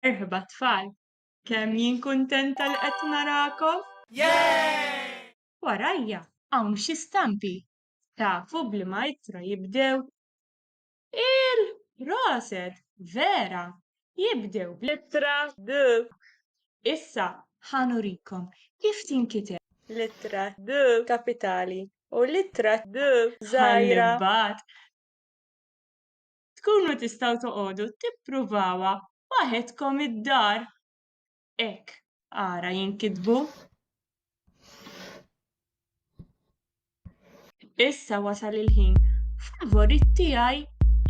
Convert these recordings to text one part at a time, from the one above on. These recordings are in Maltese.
Merħba tfal! Kemm jien kuntenta li qed narakom! Warajja hawn xi stampi. Tafu b'liema ittra jibdew? Il, proset! Vera! Jibdew bl-ittra D. Issa ħa nurikom kif tinkiteb. L-ittra D kapitali u l-ittra D żgħira. Ħa nibgħat. tkunu tistgħu toqogħdu tippruvawha waħedkom id-dar. Hekk ara jinkitbu. Issa wasal il-ħin favorit tiegħi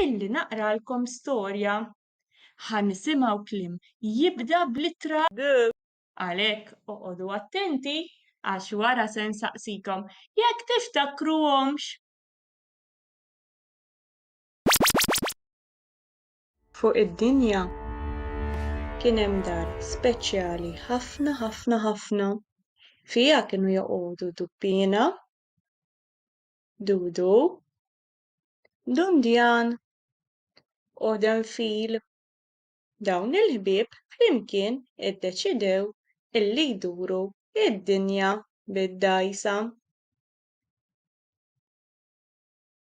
illi naqralkom storja. Ħa nisimgħu kliem jibda bl-ittra G. Għalhekk oqogħdu attenti għax wara se nsaqsikom jekk tiftakruhomx. Fuq id-dinja kien hemm dar speċjali ħafna ħafna ħafna. Fiha kienu joqogħdu Dubbina, Dudu, Dundjan u Denfil. Dawn il-ħbieb flimkien iddeċidew illi jduru d-dinja bid-dgħajsa.